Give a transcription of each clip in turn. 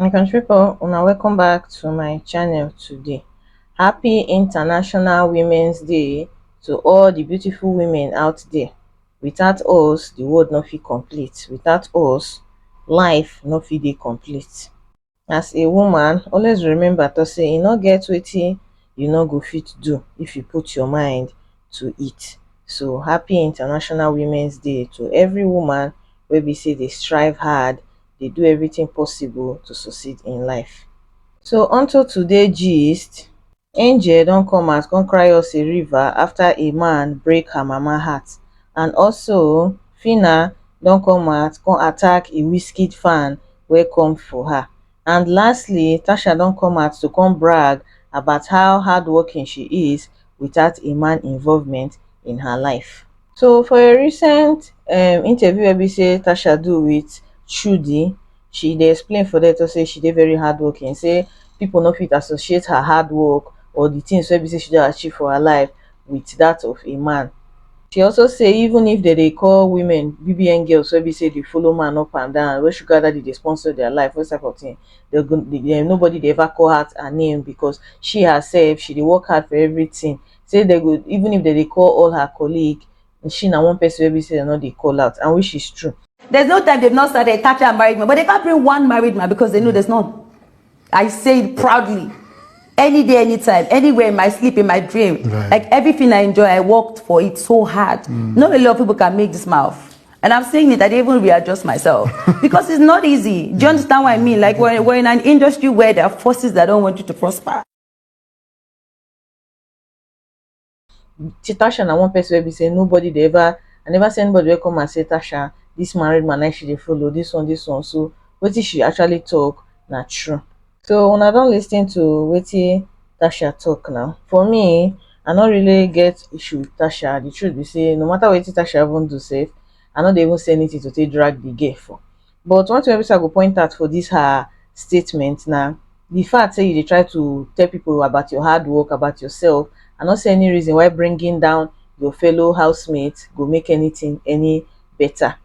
my country people una welcome back to my channel today happy international women's day to all the beautiful women out there without us the world no fit complete without us life no fit dey complete As a woman, always remember to say e no get wetin you no go fit do if you put your mind to it. So happy International Women's Day to every woman wey be say dey strive hard, dey do everything possible to succeed in life. So onto today gist. Angel don come out come cry us a river after a man break her mama heart and also Phyna don come out come attack a Wizkid fan wey come for her and lastly Tasha don come out to come brag about how hardworking she is without a man involvement in her life. So for a recent um, interview wey be say Tasha do with Chudi, she dey explain for there to say she dey very hardworking, say people no fit associate her hard work or the things wey be say she don achieve for her life with that of a man. She also say even if they dey call women BBN girls wey be say dey follow man up and down, wey sugar daddy dey sponsor their life, wey type of thing, they go, they, nobody dey ever call her her name because she herself, she dey work hard for everything say dem go even if dem dey call all her colleague she na one person wey be say dem no dey call out and which is true. There's no time they've not started tapping a married man, but they can't bring one married man because they know there's none. I say it proudly. Any day, anytime, anywhere in my sleep, in my dream. Right. Like everything I enjoy, I worked for it so hard. Mm. Not a lot of people can make this mouth. And I'm saying it, I didn't even readjust myself because it's not easy. Do you understand what I mean? Like we're, we're in an industry where there are forces that don't want you to prosper. Tasha na one person wey be say nobody dey ever I never see anybody wey come and say Tasha this married man na she dey follow this one this one so wetin she actually talk na true so una don lis ten to wetin Tasha talk now for me I no really get issue with Tasha the truth be say no matter wetin Tasha even do sef I no dey even see anything to take drag the girl for But one tin wey be sey I go point out for dis her statement na di fact sey you dey try to tell pipu about your hard work, about yoursef, I no see any reason why bringing down your fellow house mate go make anytin any beta.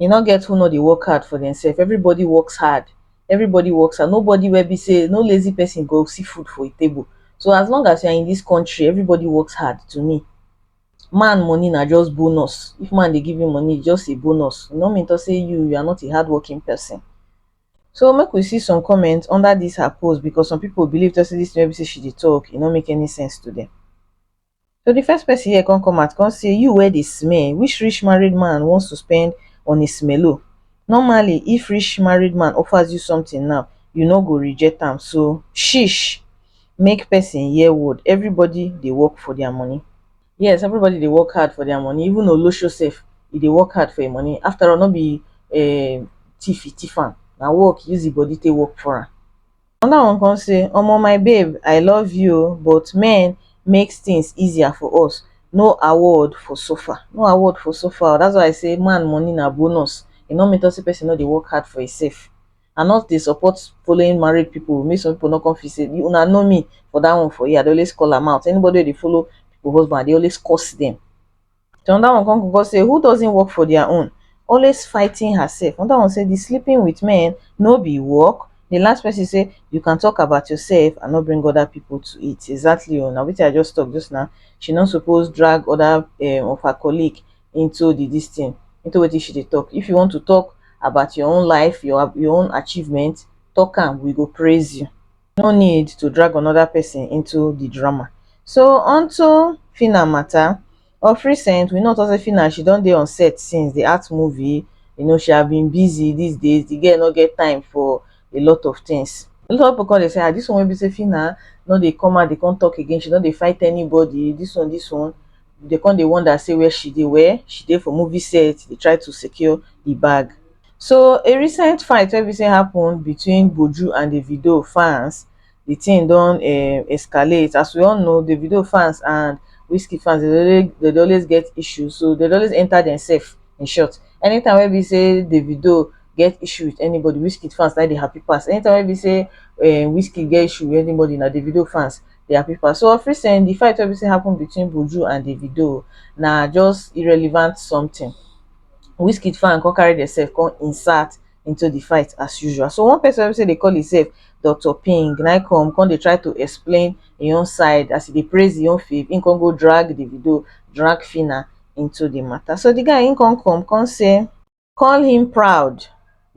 E no get who no dey work hard for demsef, everybody works hard, everybody works hard, nobody wey be sey, no lazy pesin go see food for e table. So as long as you are in dis country, everybody works hard to me. man money na just bonus. If man dey give you money, it's just a bonus. E no mean to say you you are not a hardworking person. So make we see some comments under this her post because some people believe to say this thing wey be say she dey talk, e no make any sense to them. So the first person here come come out come say you wey dey smell, which rich married man wants to spend on a smello? Normally if rich married man offers you something now, you no go reject am so shish. make person hear word everybody dey work for their money yes everybody dey work hard for their money even olosho sef e dey work hard for im money after all no be um thief e thief am na work e use im body take work for am another one come say omo my babe i love you oo but men make things easier for us no award for suffer no award for suffer oo that's why i say man money na bonus e no mean talk say person no dey work hard for imself I no dey support following married people make some people no come feel say una know me for that one for here I dey always call am out anybody wey dey follow people husband I dey always curse them the another one come go say who doesn't work for their own always fighting herself another one say the sleeping with men no be work the last person say you can talk about yourself and not bring other people to it exactly o na wetin I just talk just now she no suppose drag other um of her colleague into the this thing into wetin she dey talk if you want to talk about your own life your your own achievement talk am we go praise you no need to drag another person into the drama so unto Phyna matter of recent we know say Phyna she don dey on set since the art movie you know she have been busy these days the girl no get time for a lot of things a lot of people come dey say ah this one wey be say Phyna no dey come out dey come talk again she no dey fight anybody this one this one Dey come dey wonder say where she dey, well she dey for movie set dey try to secure the bag. So a recent fight wey be say happen between Buju and Davido fans, the thing don um escalate as we all know Davido fans and Wizkid fans dem dey always dem dey always get issues so dem dey always enter themselves in short anytime wey be say Davido get issue with anybody Wizkid fans na im dey happy pass anytime wey be say um Wizkid get issue with anybody na Davido fans their paper so of recent the fight wey be say happen between Buju and Davido na just irrelevant something Wizkid fan come carry themselves come insert into the fight as usual so one person wey be say dey call himself Dr Ping na him come come dey try to explain him own side as he dey praise him own fave him come go drag Davido drag Phyna into the matter so the guy him come come come say call him proud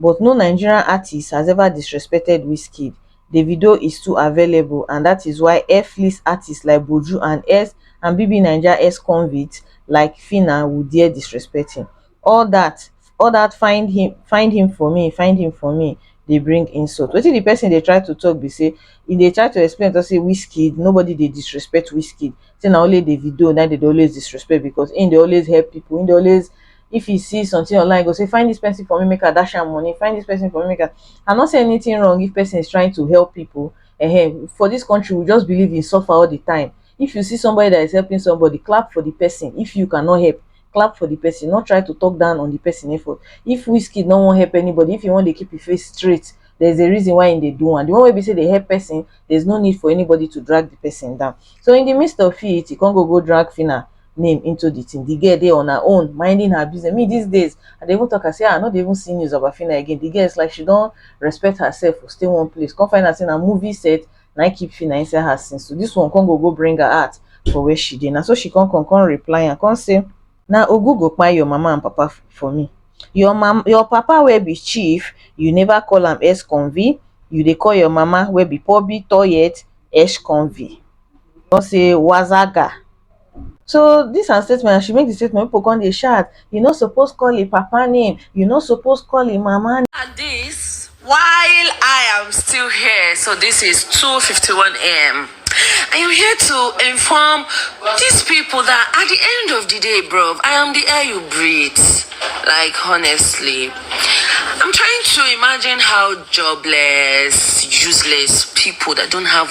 but no nigerian artiste has ever disrespected wizkid davido is too available and dat is why airflix artistes like buju and ex and bbnaija exconvicts like phyna will dare disrespect him all dat all dat find him find him for me find him for me dey bring insult wetin the person dey try to talk be say e dey try to explain to say wizkid nobody dey disrespect wizkid say na only davido na im dem dey always disrespect because im dey always help people im dey always if e see something online e go say find this person for me make I dash am money find this person for me make I I no say anything wrong if person is trying to help people um for this country we just believe in suffer all the time if you see somebody that is helping somebody clap for the person if you cannot help clap for the person not try to talk down on the person effort if Wizkid no wan help anybody if he wan dey keep him face straight there's a reason why he dey do am the one wey be say dey help person there's no need for anybody to drag the person down so in the midst of it he come go go drag Phyna name into the thing the girl dey on her own minding her business me these days i dey even talk am say ah, i no dey even see news of afina again the girl is like she don respect herself for stay one place come find out say na movie set na im keep fina inside her since so this one come go go bring her out for where she dey na so she come come come reply am come say na ogu go kpai your mama and papa f- for me your mam your papa wey be chief you never call am ex-convict you dey call your mama wey be pobi toilet ex-convict come say wazaga so dis her statement as she make di statement pipo come dey shout you no suppose call im papa name you no suppose call im mama name. At this while I am still here so this is two fifty one am I am here to inform these people that at the end of the day bro I am the air you breathe like honestly I'm trying to imagine how jobless useless people that don't have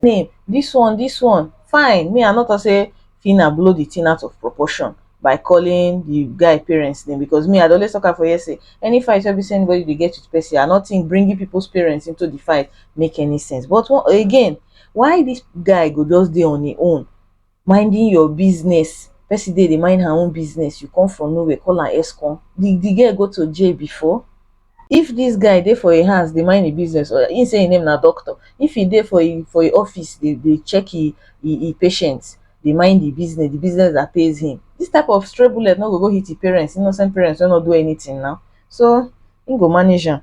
Fine, dis one dis one fine me I no talk say Phyna blow the thing out of proportion by calling the guy parents name because me I dey always talk am for here say any fight wey be say anybody dey get with person I no think bringing people's parents into the fight make any sense but again why dis guy go just dey on im own minding your business person dey dey mind her own business you come from nowhere call am escon the the girl go to jail before if this guy dey for him house dey mind him business or him say him name na doctor if he dey for him for him office dey dey check him him him patient dey mind him business the business that pays him this type of stray bullet no go go hit him parents innocent parents wey no do anything now so him go manage am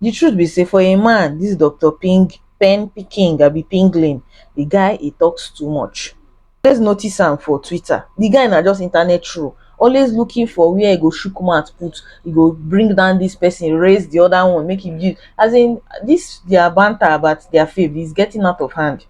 the truth be say for a man this doctor ping pen picking abi pingling the guy he talks too much always notice am for twitter the guy na just internet troll always looking for where he go shook mouth put he go bring down this person raise the other one make him use as in this their banter about their faith is getting out of hand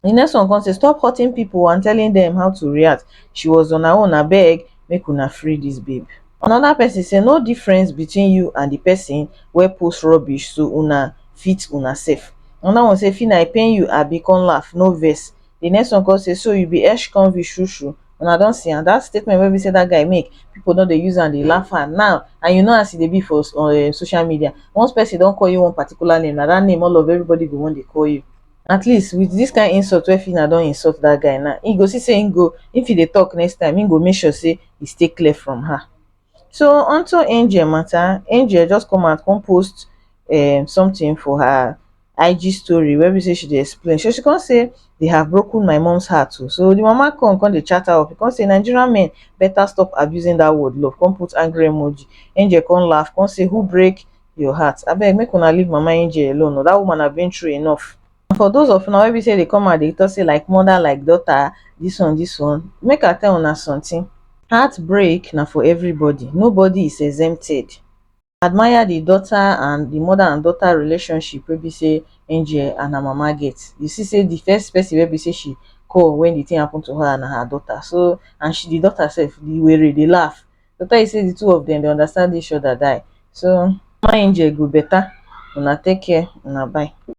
di next one come say stop hurting pipo and telling dem how to react she was on her own abeg make una free dis babe anoda pesin say no difference between you and di pesin wey post rubbish so una fit una sef anoda one say fina e pain you abi come laugh no vex di next one come say so you be ex convict shru shru una don see am dat statement wey be say dat guy make pipo don dey use am dey laugh am now and you know as e dey be for um social media once pesin don call you one particular name na dat name all of everybody go wan dey call you At least with this kind insult wey Phyna don insult that guy now, he go see say he go, if he dey talk next time, he go make sure say he stay clear from her. So onto Angel matter, Angel just come out come post um something for her IG story wey be say she dey explain. So she come say they have broken my mom's heart o. So the mama come come dey chat her up, come say Nigerian men better stop abusing that word love, come put angry emoji. Angel come laugh come say who break your heart abeg make una leave mama angel alone oo dat woman have been through enough and for those of una wey be say dey come out dey talk say like mother like daughter this one this one make i tell una something heartbreak na for everybody nobody is exempted admire the daughter and the mother and daughter relationship wey be say angel and her mama get you see say the first person wey be say she call when the thing happen to her na her daughter so and she the daughter sef the were dey laugh to tell you say the two of them dey understand each other die so mama angel e go better una take care una bye.